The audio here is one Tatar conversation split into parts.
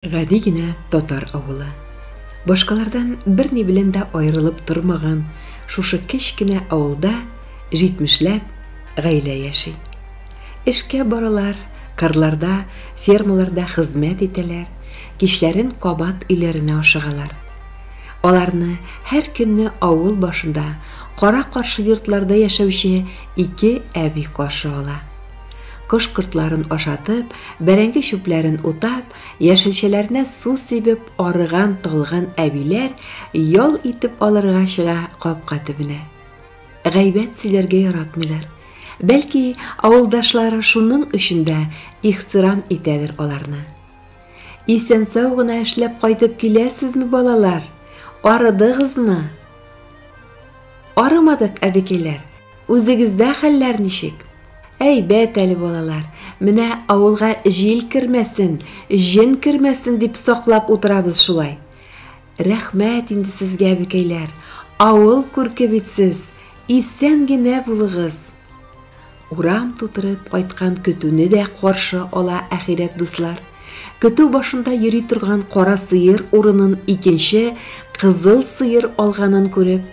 Гади генә татар авылы. Башкалардан берни белән дә аерылып тормаган шушы кечкенә авылда җитмешләп гаилә яши. Эшкә баралар, кырларда, фермаларда хезмәт итәләр, кичләрен кабат өйләренә ашыгалар. Аларны һәр көнне авыл башында кара-каршы йортларда яшәүче ике әби каршы ала. Кош-кортларын ашатып, бәрәңге чүпләрен утап, яшелчәләренә су сибеп арыган талгын әбиләр ял итеп алырга чыга капка төбенә. Гайбәт сөйләргә яратмыйлар. Бәлки, авылдашлары шуның өчен дә ихтирам итәдер аларны. Исән-сау гына эшләп кайтып киләсезме, балалар? Арыдыгызмы? Арымадык, әбекәйләр. Үзегездә хәлләр ничек? Әйбәт әле балалар, менә авылга җил кермәсен, җен кермәсен дип саклап утырабыз шулай. Рәхмәт инде сезгә, әбекәйләр, авыл күрке бит сез, исән генә булыгыз. Урам тутырып кайткан көтүне дә каршы ала әхирәт дуслар. Көтү башында йөри торган кара сыер урынын икенче кызыл сыер алганын күреп,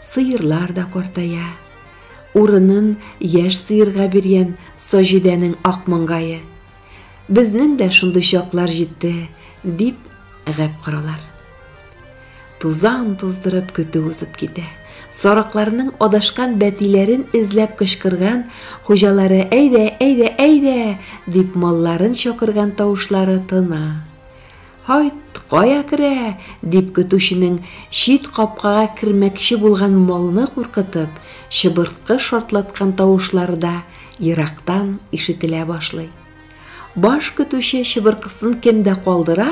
сыерлар да картая. Урынын яшь сыерга биргән Саҗидәнең ак маңгае. Безнең дә шундый чаклар җитте, дип гәп коралар. Тузан туздырып көтү узып китә. Сарыкларның адашкан бәтиләрен эзләп кычкырган, хуҗалары әйдә, әйдә, әйдә, дип малларын чакырган тавышлары тына. Һайт, кая керә? дип көтүченең чит капкага кермәкче булган малны куркытып, чыбырткы шартлаткан тавышлары да ерактан ишетелә башлый. Баш көтүче чыбыркысын кемдә калдыра,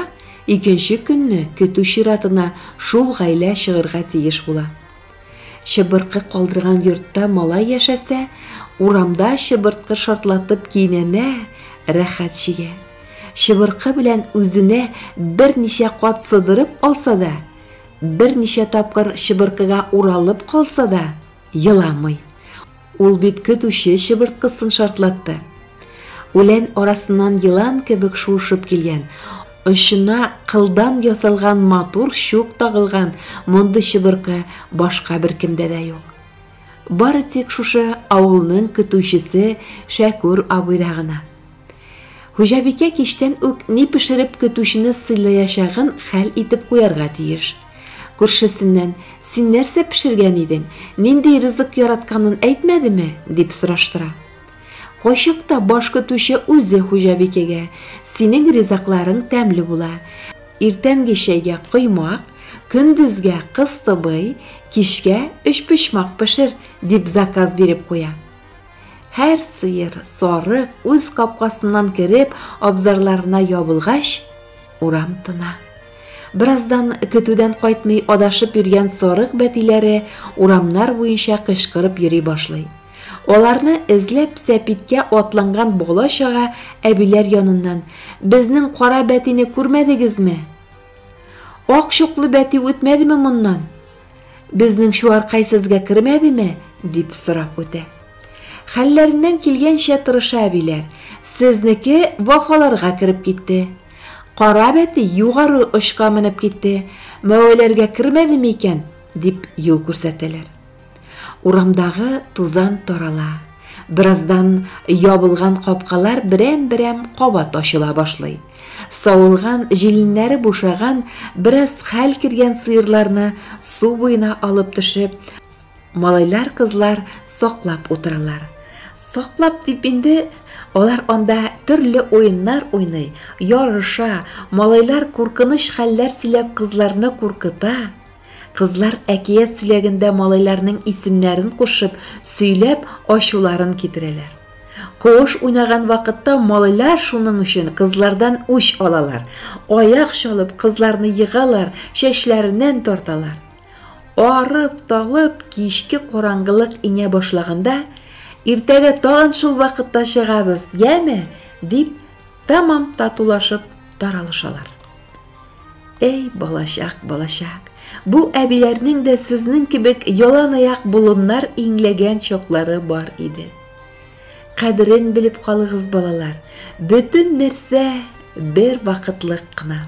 икенче көнне көтү чиратына шул гаилә чыгырга тиеш була. Чыбыркы калдырган йортта малай яшәсә, урамда чыбыркы шартлатып кинәнә, рәхәт чигә. Чыбыркы белән үзенә берничә кат сыдырып алса да, берничә тапкыр чыбыркыга уралып калса да, еламый. Ул бит көтүче чыбырткысын шартлатты. Үлән арасыннан елан кебек шуышып килгән, очына кылдан ясалган матур чук тагылган мондый чыбыркы башка беркемдә дә юк. Бары тик шушы авылның көтүчесе Шәкүр абыйда гына. Хуҗабикә кичтән үк ни пешереп көтүчене сыйлаячагын хәл итеп куярга тиеш. Күршесеннән, Син нәрсә пешергән идең? Нинди ризык яратканын әйтмәдеме? дип сораштыра. Кайчакта баш көтүче үзе хуҗабикәгә, Синең ризыкларың тәмле була. Иртәнге чәйгә коймак, көндезгә кыстыбый, кичкә өчпочмак пешер, дип заказ биреп куя. Һәр сыер, сарык үз капкасыннан кереп, абзарларына ябылгач, Урам тына. Бераздан көтүдән кайтмый адашып йөргән сарык бәтиләре урамнар буенча кычкырып йөри башлый. Аларны эзләп сәпиткә атланган бала чага әбиләр яныннан безнең кара бәтине күрмәдегезме? Ак чуклы бәти үтмәдеме моннан? Безнең чуаркай сезгә кермәдеме? дип сорап үтә. Хәлләреннән килгәнчә тырыша әбиләр. Сезнеке вафаларга кереп китте. Кара бәти югары очка менеп китте. Мәвәләргә кермәдеме икән? дип юл күрсәтәләр. Урамдагы тузан тарала. Бераздан ябылган капкалар берәм-берәм кабат ачыла башлый. Савылган, җиленнәре бушаган, бераз хәл кергән сыерларны су буена алып төшеп, малайлар-кызлар саклап утыралар. Саклап дип инде алар анда төрле уеннар уйный, ярыша, малайлар куркыныч хәлләр сөйләп кызларны куркыта. Кызлар әкият сөйләгәндә малайларның исемнәрен кушып, сөйләп, ачуларын китерәләр. Кош уйнаган вакытта малайлар шуның өчен кызлардан үч алалар. Аяк чалып, кызларны егалар, чәчләреннән тарталар. Арып, талып, кичке караңгылык иңә башлаганда, иртәгә тагын шул вакытта чыгабыз, яме, дип, тамам татулашып таралышалар. Әй, балачак, балачак. Бу әбиләрнең дә сезнең кебек яланаяк болыннар иңләгән чаклары бар иде. Кадерен белеп калыгыз, балалар. Бөтен нәрсә бер вакытлык кына.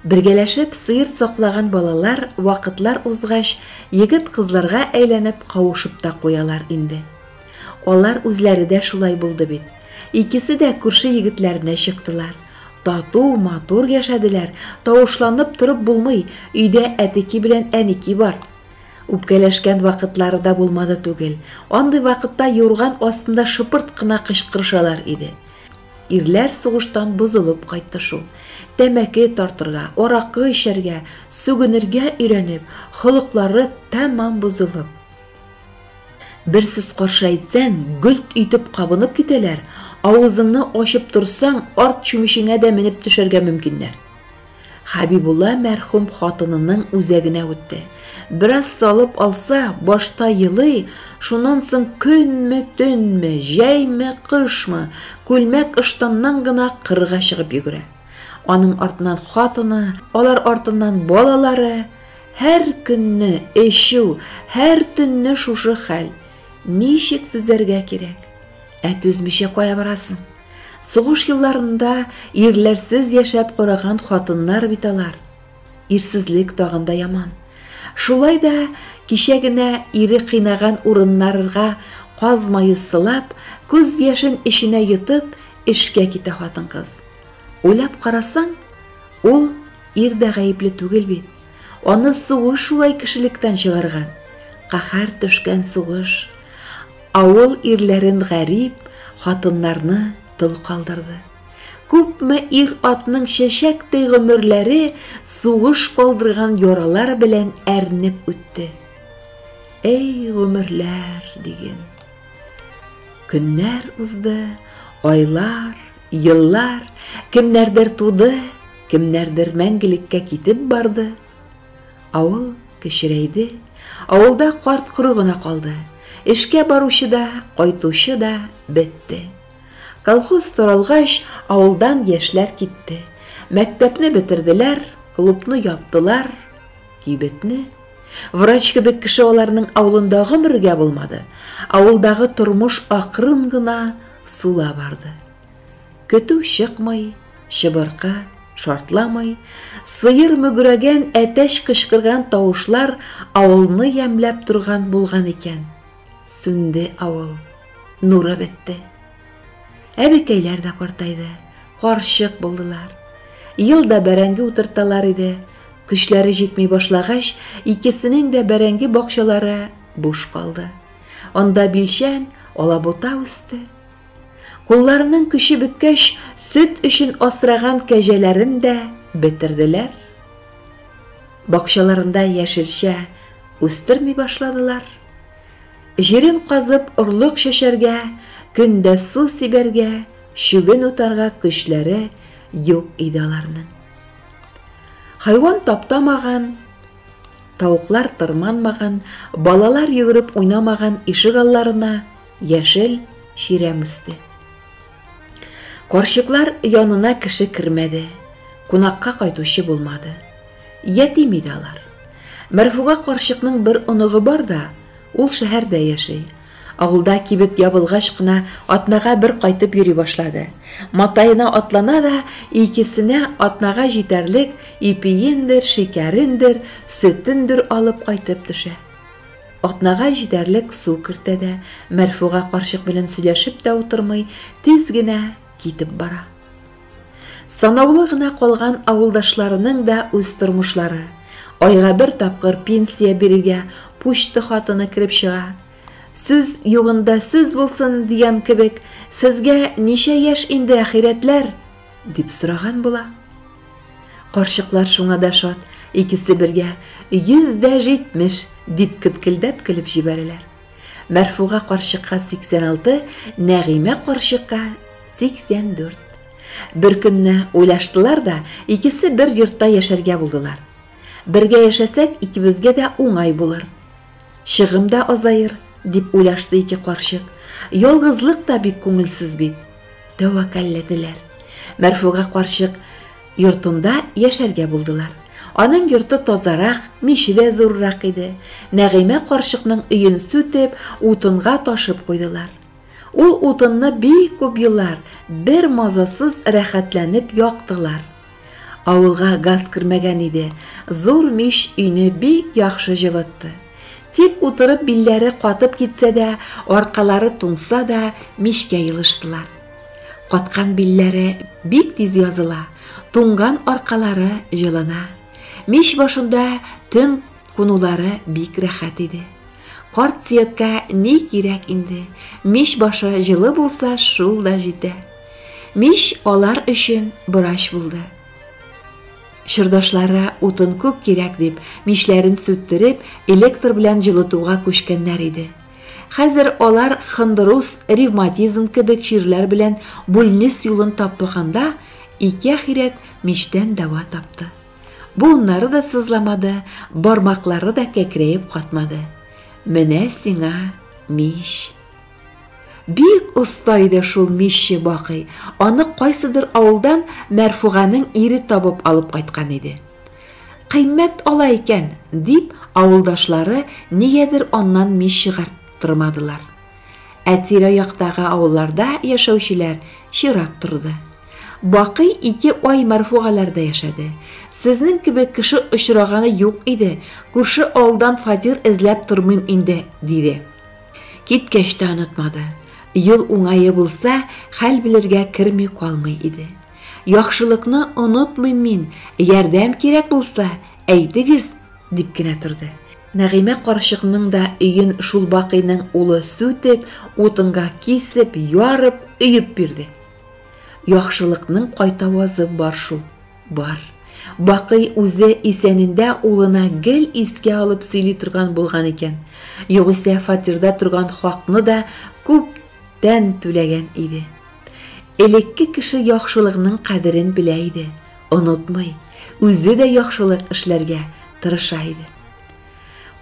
Бергәләшеп сыер саклаган балалар вакытлар узгач, егет-кызларга әйләнеп кавышып та куялар инде. Алар үзләре дә шулай булды бит. Икесе дә күрше егетләренә чыктылар. Тату, матур яшәделәр, тавышланып торып булмый, өйдә әтеки белән әники бар. Үпкәләшкән вакытлары да булмады түгел, андый вакытта юрган астында шыпырт кына кычкырышалар иде. Ирләр сугыштан бозылып кайтты шул. Тәмәке тартырга, аракы эчәргә, сүгенергә өйрәнеп, холыклары тәмам бозылып. Бер сүз каршы әйтсәң, гөлт итеп кабынып китәләр, авызыңны ачып торсаң, арт чүмечеңә дә менеп төшәргә мөмкиннәр. Хәбибулла мәрхүм хатынының үзәгенә үтте. Бераз салып алса, башта елый, шуннан соң көнме, төнме, җәйме, кышмы, күлмәк ыштаннан гына кырга чыгып йөгерә. Аның артыннан хатыны, алар артыннан балалары, Һәр көнне эчү, һәр төнне шушы хәл. Ничек түзәргә кирәк? Ә түзмичә кая барасың? Сугыш елларында ирләрсез яшәп караган хатыннар бит алар. Ирсезлек тагын да яман. Шулай да кичә генә ире кыйнаган урыннарырга каз мае сылап, күз яшен эченә йотып, эшкә китә хатын-кыз. Уйлап карасаң, ул Ир дә гаепле түгел бит. Аны сугыш шулай кешелектән чыгарган. Каһәр төшкән сугыш. Авыл ирләрен гарип, хатыннарны тол калдырды. Күпме ир-атның чәчәктәй гомерләре сугыш калдырган яралар белән әрнеп үтте. Әй, гомерләр, диген. Көннәр узды, айлар, Еллар, кемнәрдер туды, кемнәрдер мәңгелеккә китеп барды. Авыл кечерәйде, авылда карт-коры гына калды. Эшкә баручы да, кайтучы да бетте. Колхоз таралгач, авылдан яшьләр китте. Мәктәпне бетерделәр, клубны яптылар, кибетне. Врач кебек кеше аларның авылында гомергә булмады. Авылдагы тормыш акрын гына Сула барды. Көтү чыкмый, чыбыркы шартламый, сыер мөгрәгән, әтәч кычкырган тавышлар авылны ямьләп торган булган икән. Сүнде авыл. Нуры бетте. Әбекәйләр дә картайды. Карчык булдылар. Ел да бәрәңге утырталар иде. Көчләре җитми башлагач, икесенең дә бәрәңге бакчалары буш калды. Анда билчән, алабута үсте. Кулларының көче беткәч, сөт өчен асраган кәҗәләрен дә бетерделәр. Бакчаларында яшелчә үстерми башладылар. Җирен казып орлык чәчәргә, көндә су сибәргә, чүген утарга көчләре юк иде аларның. Хайван таптамаган, Тавыклар тырманмаган, балалар йөгереп уйнамаган ишек алларына яшел чирәм үсте. Карчыклар янына кеше кермәде, кунакка кайтучы булмады. Ятим иде алар. Мәрфуга карчыкның бер оныгы бар да, ул шәһәрдә яши. Авылда кибет ябылгач кына атнага бер кайтып йөри башлады. Матаена атлана да икесенә атнага җитәрлек ипиендер, шикәрендер, сөтендер алып кайтып төшә. Атнага җитәрлек су кертә дә, Мәрфуга карчык белән сөйләшеп тә утырмый, тиз генә китеп бара. Санаулы гына калган авылдашларының да үз тормышлары. Айга бер тапкыр пенсия бирергә пучты хатыны кереп чыга. Сүз югында сүз булсын дигән кебек, сезгә ничә яшь инде, ахирәтләр? дип сораган була. Карчыклар шуңа да шат, икесе бергә 170 дип кеткелдәп көлеп җибәрәләр. Мәрфуга карчыкка 86, Нәгыймә карчыкка 84. Беркөнне уйлаштылар да, икесе бер йортта яшәргә булдылар. Бергә яшәсәк, икебезгә дә уңай булыр. Чыгым да азаер, дип уйлашты ике карчык. Ялгызлык та бик күңелсез бит. Тәвәккәлләделәр. Мәрфуга карчык Йортында яшәргә булдылар. Аның йорты тазарак, миче дә зуррак иде. Нәгыймә карчыкның өен сүтеп, утынга ташып куйдылар. Ул утынны бик күп еллар бер мазасыз рәхәтләнеп яктылар. Авылга газ кермәгән иде, зур мич өйне бик яхшы җылытты. Тик утырып билләре катып китсә дә, аркалары туңса да, мичкә елыштылар. Каткан билләре бик тиз языла, туңган аркалары җылына. Мич башында төн кунулары бик рәхәт иде. Карт Сөяккә ни кирәк инде? Мич башы җылы булса, шул да җитә. Мич алар өчен борач булды. Чордашлары утын күп кирәк дип, мичләрен сүттереп, электр белән җылытуга күчкәннәр иде. Хәзер алар хондроз, ревматизм кебек чирләр белән бүлнис юлын таплаганда, ике ахирәт мичтән дәва тапты. Буыннары да сызламады, бармаклары да кәкрәеп катмады. Менә сиңа мич. Бик оста иде шул мичче Бакый. Аны кайсыдыр авылдан Мәрфуганың ире табып алып кайткан иде. Кыйммәт ала икән, дип, авылдашлары нигәдер аннан мич чыгарттырмадылар. Ә тирә-яктагы авылларда яшәүчеләр чират торды. Бакый ике ай Мәрфугаләрдә яшәде. Сезнең кебек кеше очраганы юк иде, күрше авылдан фатир эзләп тормыйм инде, диде. Киткәч тә онытмады. Юл уңае булса, хәл белергә керми калмый иде. Яхшылыкны онытмыйм мин, ярдәм кирәк булса, әйтегез, дип кенә торды. Нәгыймә карчыкның да өен шул Бакыйның улы сүтеп, утынга кисеп, ярып, өеп бирде. Яхшылыкның кайтавазы бар шул, бар. Бакый үзе исәнендә улына гел искә алып сөйли торган булган икән. Югыйсә фатирда торган хакны да күптән түләгән иде. Элекке кеше яхшылыкның кадерен белә иде, онытмый, үзе дә яхшылык эшләргә тырыша иде.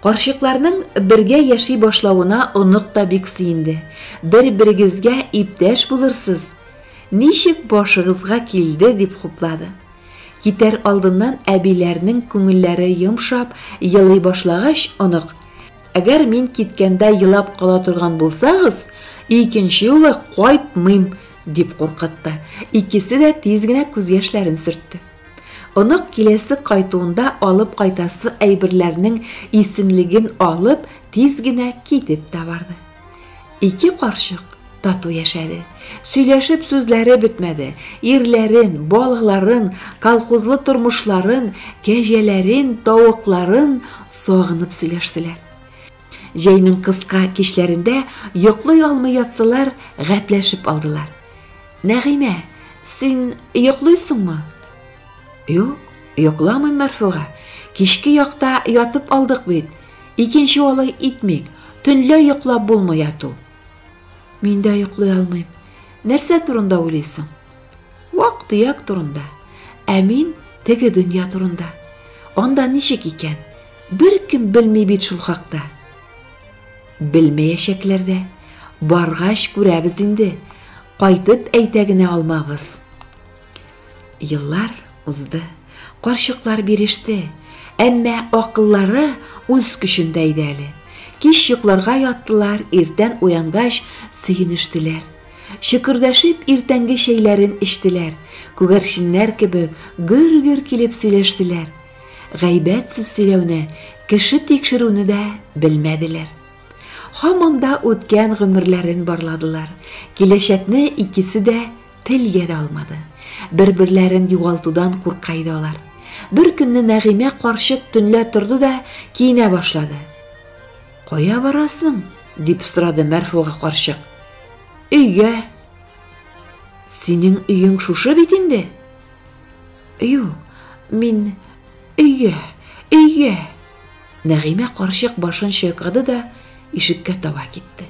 Карчыкларның бергә яши башлавына онык та бик сөенде. Бер-берегезгә иптәш булырсыз. Ничек башыгызга килде, дип хуплады. Китәр алдыннан әбиләрнең күңелләре йомшап, елый башлагач, онык Әгәр мин киткәндә елап кала торган булсагыз, икенче юлы кайтмыйм, дип куркытты. Икесе дә тиз генә күз яшьләрен сөртте. Онык киләсе кайтуында алып кайтасы әйберләрнең исемлеген алып, тиз генә китеп тә барды. Ике карчык тату яшәде. Сөйләшеп сүзләре бетмәде. Ирләрен, балыкларын, колхозлы тормышларын, кәҗәләрен, тавыкларын сагынып сөйләштеләр. Җәйнең кыска кичләрендә йоклый алмый ятсылар, гәпләшеп алдылар. Нәгыймә, син йоклыйсыңмы? Юк, йокламыйм, Мәрфуга. Кичке якта ятып алдык бит. Икенче алай итмик. Төнлә йоклап булмый яту. Мин дә йоклый алмыйм. Нәрсә турында уйлыйсың? Вак-төяк турында. Ә мин теге дөнья турында. Анда ничек икән? Беркем белми бит шул хакта. Белмәячәкләр дә. Баргач күрәбез инде. Кайтып әйтә генә алмабыз. Еллар узды, карчыклар биреште, әмма акыллары үз көчендә иде әле. Кич йокларга яттылар, иртән уянгач, сөенештеләр. Шөкердәшеп, иртәнге чәйләрен эчтеләр, күгәрченнәр кебек гөр-гөр килеп сөйләштеләр. Гайбәт сүз сөйләүне, кеше тикшерүне дә белмәделәр. Һаман да үткән гомерләрен барладылар. Киләчәкне икесе дә Телгә дә алмады. Бер-берләрен югалтудан курка иде алар. Бер көнне Нәгыймә карчык төнлә торды да киенә башлады. Кая барасың? дип сорады Мәрфуга карчык. Өйгә. Синең өең шушы бит инде? Юк, мин өйгә, өйгә. Нәгыймә карчык башын чайкады да ишеккә таба китте.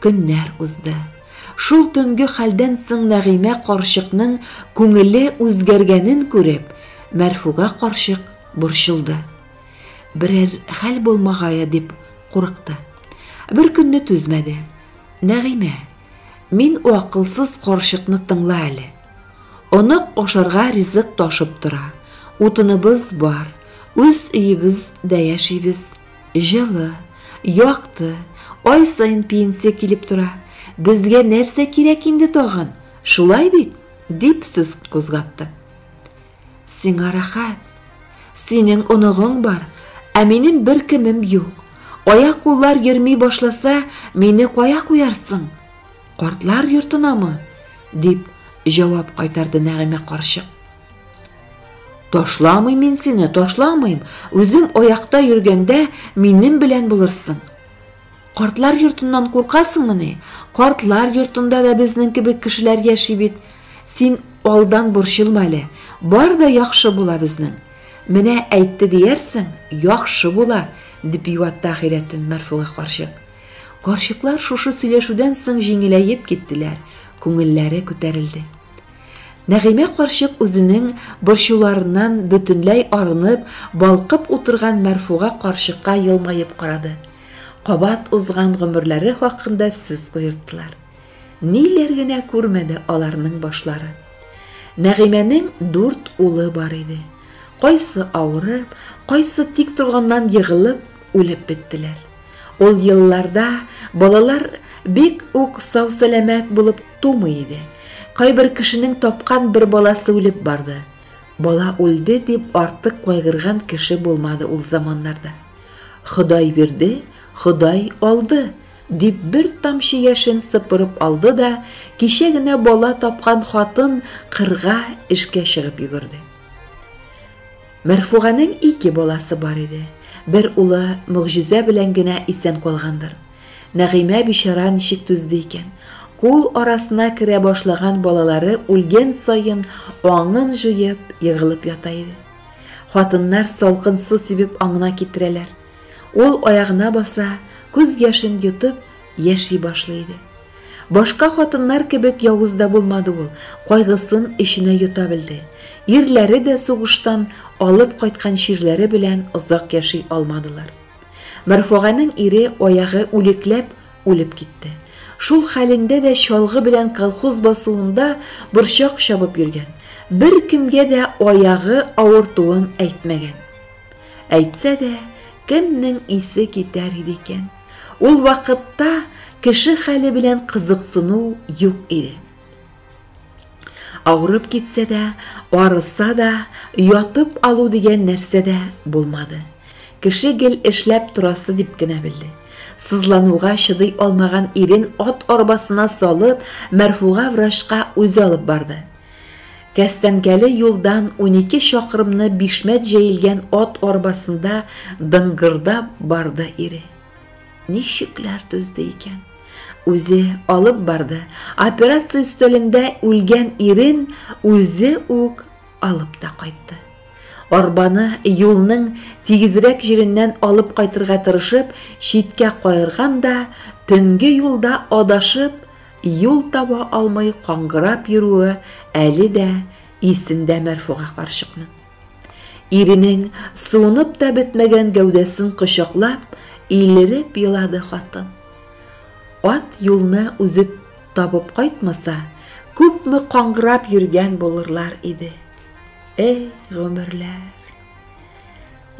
Көннәр узды. Шул төнге хәлдән соң Нәгыймә карчыкның күңеле үзгәргәнен күреп, Мәрфуга карчык борчылды. Берәр хәл булмагае дип курыкты. Беркөнне түзмәде. Нәгыймә, мин у акылсыз карчыкны тыңла әле. Онык ашарга ризык ташып тора, утыныбыз бар, үз өебез дә яшибез. Җылы, якты, ай саен пенсия килеп тора. Безгә нәрсә кирәк инде тагын? Шулай бит? дип сүз кузгатты. Сиңа рәхәт. Синең оныгың бар, ә минем бер кемем юк. Аяк куллар йөрми башласа, мине кая куярсың? Картлар йортынамы? дип җавап кайтарды Нәгыймә карчык. Ташламыйм мин сине, ташламыйм. Үзем аякта йөргәндә минем белән булырсың. Картлар йортыннан куркасыңмы ни? Картлар йортында да безнең кебек кешеләр яши бит. Син алдан борчылма әле. Бар да яхшы була безнең. Менә әйтте диярсең, яхшы була, дип юатты ахирәтен Мәрфуга карчык. Карчыклар шушы сөйләшүдән соң җиңеләеп киттеләр, күңелләре күтәрелде. Нәгыймә карчык үзенең борчуларыннан бөтенләй арынып, балкып утырган Мәрфуга карчыкка елмаеп карады. Кабат узган гомерләре хакында сүз куерттылар. Ниләр генә күрмәде аларның башлары. Нәгыймәнең дүрт улы бар иде. Кайсы авырып, кайсы тик торганнан егылып, үлеп беттеләр. Ул елларда балалар бик үк сау-сәламәт булып тумый иде. Кайбер кешенең тапкан бер баласы үлеп барды. Бала үлде дип артык кайгырган кеше булмады ул заманнарда. Ходай бирде, Ходай алды, дип бер тамчы яшен сыпырып алды да, кичә генә бала тапкан хатын кырга эшкә чыгып йөгерде. Мәрфуганең ике баласы бар иде. Бер улы могҗизә белән генә исән калгандыр. Нәгыймә бичара ничек түзде икән? Кул арасына керә башлаган балалары үлгән саен аңын җуеп, егылып ята иде. Хатыннар салкын су сибеп аңына китерәләр. Ул аягына баса, күз яшен йотып, Яши башлый иде. Башка хатыннар кебек явыз да булмады ул, кайгысын эченә йота белде. Ирләре дә сугыштан алып кайткан чирләре белән озак яши алмадылар. Мәрфуганең ире аягы үлекләп үлеп китте. Шул хәлендә дә чалгы белән колхоз басуында борчак чабып йөргән, беркемгә дә аягы авыртуын әйтмәгән. Әйтсә дә, кемнең исе китәр иде икән? Ул вакытта кеше хәле белән кызыксыну юк иде. Авырып китсә дә, арыса да, ятып алу дигән нәрсә дә булмады. Кеше гел эшләп торасы дип кенә белде. Сызлануга чыдый алмаган ирен ат арбасына салып, Мәрфуга врачка үзе алып барды. Кәстәнкәле юлдан унике чакрымны бишмәт җәелгән ат арбасында дыңгырдап барды ире. Ничекләр түзде икән? Үзе алып барды, операция өстәлендә үлгән ирен үзе үк алып та кайтты. Арбаны юлның тигезрәк җиреннән алып кайтырга тырышып, читкә каерган да, төнге юлда адашып, Юл таба алмый каңгырап йөрүе әле дә исендә Мәрфуга карчыкның. Иренең суынып та бетмәгән гәүдәсен кочаклап, илереп елады хатын. Ат юлны үзе табып кайтмаса, күпме каңгырап йөргән булырлар иде. Эй, гомерләр!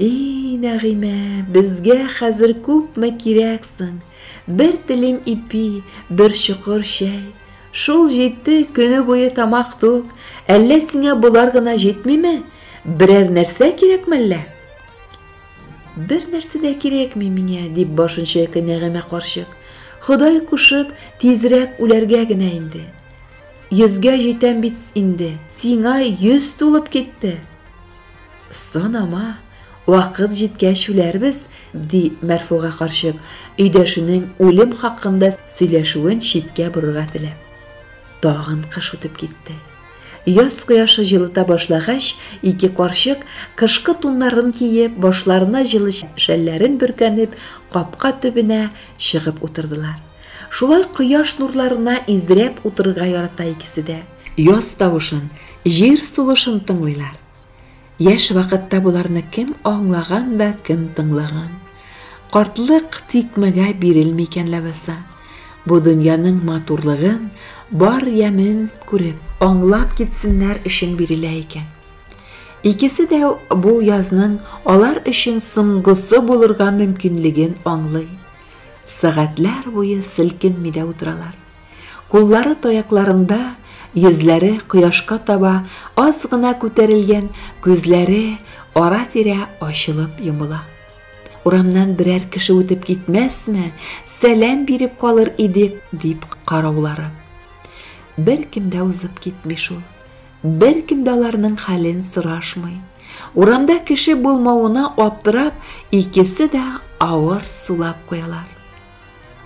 И, Нәгыймә, безгә хәзер күпме кирәксең! Бер телем ипи, бер чокыр чәй. Шул җитте, көне буе тамак тук. Әллә сиңа болар гына җитмиме? Берәр нәрсә кирәкме әллә? Бер нәрсә дә кирәкми миңа, дип башын чайкый Нәгыймә карчык. Ходай кушып, тизрәк үләргә генә инде. Йөзгә җитәм бит инде. Сиңа йөз тулып китте. Санама, вакыт җиткәч үләрбез, ди Мәрфуга карчык, өйдәшенең үлем хакында сөйләшүен читкә борырга теләп. Тагын кыш үтеп китте. Яз кояшы җылыта башлагач, ике карчык, кышкы туннарын киеп, башларына җылы шәлләрен бөркәнеп, капка төбенә чыгып утырдылар. Шулай кояш нурларына изрәп утырырга ярата икесе дә. Яз тавышын, җир сулышын тыңлыйлар. Яшь вакытта боларны кем аңлаган да, кем тыңлаган. Картлык тикмәгә бирелми икән ләбаса. Бу дөньяның матурлыгын, бар ямен күреп, аңлап китсеннәр өчен бирелә икән. Икесе дә бу язның алар өчен соңгысы булырга мөмкинлеген аңлый. Сәгатьләр буе селкенми дә утыралар. Куллары таякларында, йөзләре кояшка таба аз гына күтәрелгән, күзләре ара-тирә ачылып йомыла. Урамнан берәр кеше үтеп китмәсме, сәлам биреп калыр идек, дип караулары. Бер кем дә узып китми шул. Бер кем дә аларның хәлен сорашмый. Урамда кеше булмавына аптырап, икесе дә авыр сулап куялар.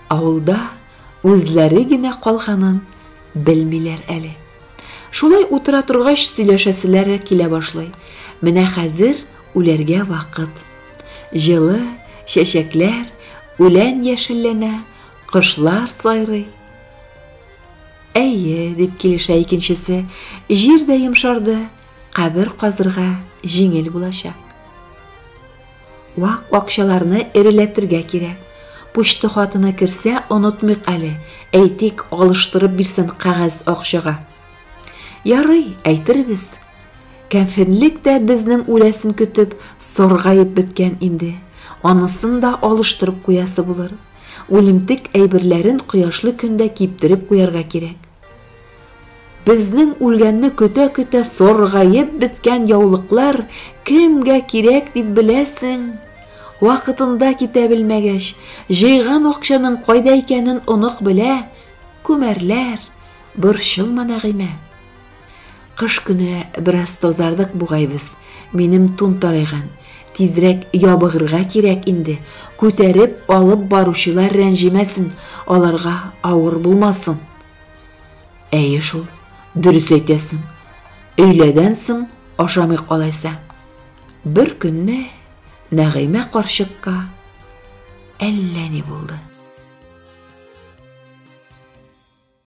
Авылда үзләре генә калганын белмиләр әле. Шулай утыра торгач, сөйләшәселәре килә башлый. Менә хәзер үләргә вакыт. Җылы, чәчәкләр, үлән яшелләнә, кошлар сайрый. Әйе, дип килешә икенчесе, җир дә йомшарды, кабер казырга җиңел булачак. Вак акчаларны эреләтергә кирәк. Почта хатына керсә, онытмыйк әле, әйтик, алыштырып бирсен кәгазь акчага. Ярый, әйтербез. Кәфенлек тә безнең үләсен көтеп, саргаеп беткән инде. Анысын да алыштырып куясы булыр. Үлемтек әйберләрен кояшлы көндә киптереп куярга кирәк. Безнең үлгәнне көтә-көтә соргаеп беткән яулыклар кемгә кирәк дип беләсең? Вакытында китә белмәгәч, җыйган акчаның кайда икәнен онык белә, күмәрләр, борчылма, Нәгыймә. Кыш көне бераз тазардык бугай без, минем тун тарайган, тизрәк ябыгырга кирәк инде, күтәреп алып баручылар рәнҗемәсен, аларга авыр булмасын. Әйе шул, дөрес әйтәсең. Өйләдән соң ашамый калайса. Бер көнне Нәгыймә карчыкка әллә ни булды.